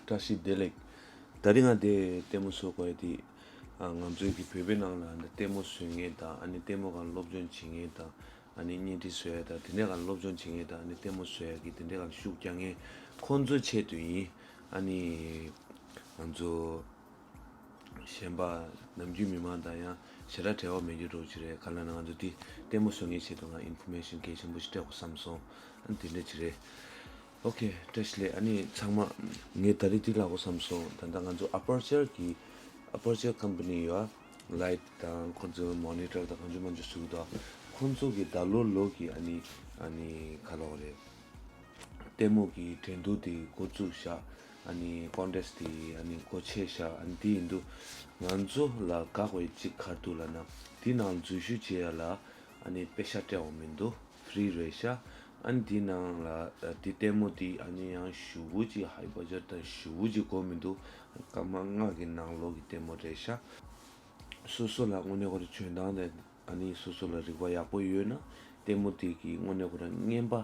བཀྲ་ཤིས་བདེ་ལེགས། ད་དེ་སྔ་དེ་ལྟད་མོ་བཟོ་དགོས་དེ། ང་ཚོའི་གི་བོད་པའི་ནང་ལ་འདི་ལྟད་མོ་བཟོས་ངེས་དང་ཨ་ནི་ལྟད་མོ་གང་སློབ་སྦྱོང་བྱེད་ངེས་དང་ཨ་ནི་བརྙན་འཕྲིན་བཟོ་ཡ་དང་དེ་འདྲས་གང་སློབ་སྦྱོང་བྱེད་ངེས་དང་ཨ་ནི་ལྟད་མོ་བཟོ་ཡ་གི་དེ་འདྲས་གང་ཤུགས་རྒྱག་ངེས་ཁོང་ཚོའི་ཆེད་དུ་ཡིན་ཨ་ནི། ང་ཚོ། གཞན་པ། ནམ་རྒྱུན་མི་མང་དང་ཡང་བྱེ་བྲག་བྲལ་བ་མེད་རྒྱུ་འགྲོ་གི་རེད་ག་ལ་ན་ང་ཚོ་འདི་ལྟད་མོ་བཟོ་ངེས་བྱས་འདུག་ང Information གལ་ཆེན་པོ་ཞིག་སྤྲད་དགོས་བསམ་སོང་ཨ་ནི་དེ་འདྲ་གྱི་རེད། ཨོ་ཁེ Trash ལས་ཨ་ནི་ཚང་མ། ངས་ད་རེས་འདི་ལག་དགོས་བསམ་སོང་ད་ལྟ་ང་ཚོ Aperture གི Aperture Company ཡོད་ཨ། Light དང་ཁོང་ཚོའི Monitor དང་གང་བྱུང་མང་བྱུང་བཟོ་གི་འདུག་ཨ། ཁོང་ཚོ་གི་ད་ལོ་ལོ་གི་ཨ་ནི་ཨ་ནི་ག་ལ་བ་རེད། ལྟད་མོ་གི་འགྲན་བསྡུར་དེ་འགོ་བཙུགས་ཤག་ཀོང་ཀྲེས་དེ་གོ་ཆས་ཤ་འདི་ཡིན་འདུག་ང་ཚོ་ལ་དགག་བའི་གཅིག་གར་འདུག་ལ་ན་དེ་ནང་འཛུལ་ཞུ་བྱེད་ཡ་ལ་དཔེ་ཤ་སྤྲད་འོང་མི་འདུག Free རེད་ཤ་དེ་ནང་ལ་དེ་ལྟད་མོ་དེ་ཡང་ཞུ་བོ་ཅི་ཧའི་པ་ཇར་དང་ཞུ་བོ་ཅི་གོ་མི་འདུག་སྐར་མ་ལྔ་གི་ནང་ལོག་གི་ལྟད་མོ་རེད་ཤ། སོ་སོ་ལ་དངོས་གནས་ཁོ་ར་བྱོན་སྟངས་དེ་སོ་སོ་ལ་རིག་པ་ཡག་པོ་ཡོད་ན་ལྟད་མོ་དེ་གི་དངོས་གནས་ཁོ་ར་རྔན་པ་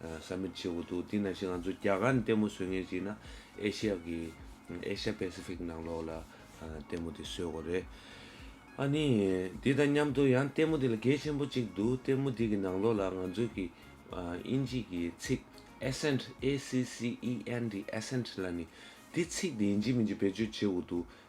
བསམ་མེད་ཆེ་བོ་འདུག་དེ་ན་བཞིན་ང་ཚོ་རྒྱ་གར་ནས་ལྟད་མོ་བཟོས་ངེས་ཅིག་ན་ཨེ་ཤི་ཡ་གི། Asia Pacific། ནང་ལོགས་ལ་ལྟད་མོ་དེ་བཟོས་དགོས་རེད། ཨ་ནི། དེ་དང་མཉམ་དུ་ཡང་ལྟད་མོ་དེ་ལ་གལ་ཆེན་པོ་གཅིག་འདུག་ལྟད་མོ་དེ་གི་ནང་ལོགས་ལ་ང་ཚོ་གི། དབྱིན་ཇིས་གི་ཚིག Accent A C C E N T Accent ལ་ནི་དེ་ཚིག་དེ་ཡིན་གཅིག་མིན་གཅིག་བེད་སྤྱོད་བྱེད་དགོས་འདུག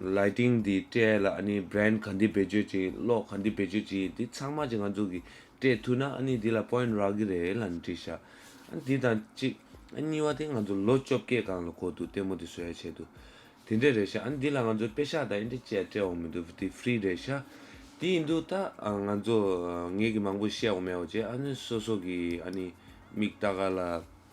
Lighting འདི་སྤྲད་ལ་ཨ་ནི Brand ག་འདི་བེད་སྤྱོད་བྱེད་གློག་ག་འདི་བེད་སྤྱོད་བྱེད་འདི་ཚང་མ་གྱི་ང་ཚོ་གི་སྤྲད་ཐུ་ན་ཨ་ནི་འདི་ལ Point རག་གི་རེད་ལ་འདྲི་ཤག་ཨ་འདི་དང་གཅིག་ཨ་གཉིས་བ་དེ་ང་ཚོ་ལོ་བཅོ་བརྒྱད་གང་ལ་གོ་འདུག་ལྟད་མོ་དེ་བཟོ་ཡ་ཆེད་དུ་དེ་འདྲས་རེད་ཤག་ཨ་འདི་ལ་ང་ཚོ་དཔེ་ཤག་དང་ཨེ་འདྲས་བཅས་སྤྲད་འོང་མི་འདུག་འདི Free རེད་ཤག་དེ་ཡིན་དུ་ད་ང་ཚོ་ངས་གི་མང་པོ་བཤད་འོང་མེད་འོང་བྱས་ཨ་ནི་སོ་སོ་གི་ཨ་ནི་མིག་ལྟ་ག་ལ།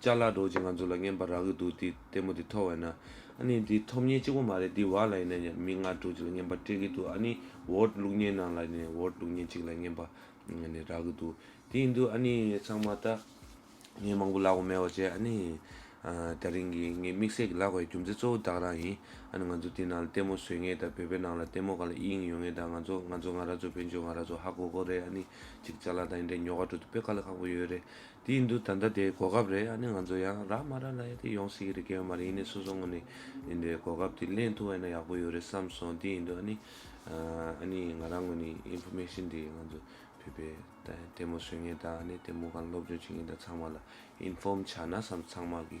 ལྕགས་ལ་སྒྲོག་ཅིང་ང་ཚོ་ལ་བརྔན་པར་རག་གི་འདུག་དེ་ལྟད་མོ་དེ་ཐོག་བས་ན། ཨ་ནི་འདི་ཐོབ་བརྙན་གཅིག་པོ་མ་རེད་འདི་བག་ལ་ཡིན་ན་ཡང་མིག་སྔར་སྒྲོག་ཅིག་ལ་བརྔན་པར་སྤྲད་ཀྱི་འདུག་ཨ་ནི་འོར་བླུགས་བརྙན་ནང་ལ་ནས་འོར་བླུགས་བརྙན་གཅིག་ལ་བརྔན་པར་ནས་རག་གི་འདུག་དེ་ཡིན་དུས་ཨ་ནི་ཚང་མ་ད། ངས་མང་པོ་ལབ་གོ་མེད་བ་བཅས་ཨ་ནི། ད་རིང་གི་ངའི་དམིགས་བསལ་གྱི་ལབ་དགའི་རྒྱུ་མཚན་གཙོ་བོ་བདག་རང་ཡིན་ཨ་ནི་ང་ཚོ་དེ་ནང་ལ་ལྟད་མོ་བཟོས་ངེས་ད་བོད་པའི་ནང་ལ་ལྟད་མོ་ག་ལ་ཨི་ཡིན་ཡོང་ངེས་ད་ང་ཚོ་ང་ཚོ་ང་ར་ཚོ་བོན་ཆོས་ང་ར་ཚོ་ཧ་གོ་གོ་རེད་ཨ་ནི་གཅིག་ལྕགས་ལ་དང་ཡིན་དྲན་ཉོ་ག་འགྲོ་དུས་དཔེ་ཁ་ལ་ཁག་པོ་ཡོད་རེད་དེའི་འདུག་ད་ལྟ་དེའི་གོ་སྐབས་རེད་ཨ་ནི་ང་ཚོ་ཡང་རག་མ་རག་ལ་ཡ་དེ་ཡོང་སྲིད་ཀྱི་རེད་སྐལ་བ་མ་རེད་ཡིན་ནའི་སོ་སོ་ངོ་ནས་ཡིན་དེའི་གོ་སྐབས་དེ་གླེང་ཐུབ་བ་ཡིན་ན་ཡག་པོ་ཡོད་རེད་བསམ་སོང་དེའི་འདུག་ཨ་ནི་ཨ་ནི་ང་རང་ངོ་ནས Information དེ་ང་ཚོ་བོད་པའི་ལྟད་མོ་བཟོས་ངེས་དང་ཨ་ནི་ལྟད་མོ་གང་སློབ་སྦྱོང་བྱེད་ངེས་དང་ཚང་མ་ལ Inform བྱ་ན་བསམ་ཚང་མ་གི་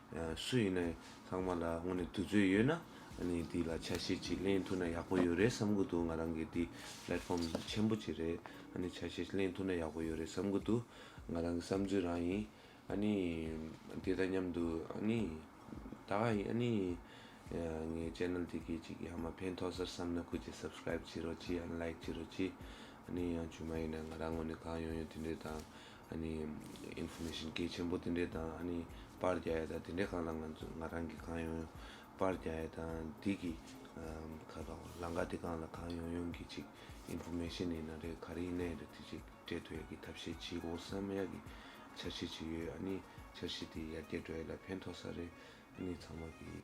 སུ་ཡིན་ནའི་ཚང་མ་ལ་དངོས་ནས་དུས་ཚོད་ཡོད་ན་ནི་འདི་ལ་ཆ་ཤས་ཅིག་གླེང་ཐུབ་ན་ཡག་པོ་ཡོད་རེད་བསམ་གི་འདུག་ང་རང་གི་འདི Platform ཆེན་པོ་ཅིག་རེད་ནི་ཆ་ཤས་ཅིག་གླེང་ཐུབ་ན་ཡག་པོ་ཡོད་རེད་བསམ་གི་འདུག་ང་རང་གི་བསམ་ཚུལ་རང་ཡིན་ནི་དེ་དང་མཉམ་དུ་ནི་ད་ག་ནི་ངའི Channel དེ་གའི་ཅིག་ཡང་མ་ཕན་ཐོག་སར་བསམ་ན་ཁུ་ཅིག Subscribe བྱེད་རོགས་གྱིས་ཡང Like བྱེད་རོགས་གྱིས་ནི་ཡང་བྱུང་མ་ཡིན་ན་ང་རང་དངོས་ནས་གང་ཡོང་ཡོང་དེ་འདྲའི་དང Information སྐད་ཆེན་པོ་དེ་འདྲའི་དང་ཨ་ནི་པར་རྒྱག་ཡ་དང་དེ་འདྲའི་གང་ལ་ང་ཚོ་ང་རང་གིས་གང་ཡོང་ཡོང་པར་རྒྱག་ཡ་དང་འདི་གི་ཁ་གང་བ་ལང་ཀ་དེ་གང་ལ་གང་ཡོང་ཡོང་གི་ཅིག Information ཡིན་ན་རེད་ག་རེ་ཡིན་ན་ཡིན་རེད་དེ་ཅིག་སྤྲད་ཐུབ་ཡ་གི་ཐབས་ཤེས་ཅིག་འོ་ས་མ་ཡ་གི་འཆར་གཞི་ཅིག་ཡོད་ཨ་ནི་འཆར་གཞི་དེ་ཡར་རྒྱས་འགྲོ་ཡ་ལ་ཕན་ཐོགས་ས་རེད་ཨ་ནི་ཚང་མ་གི།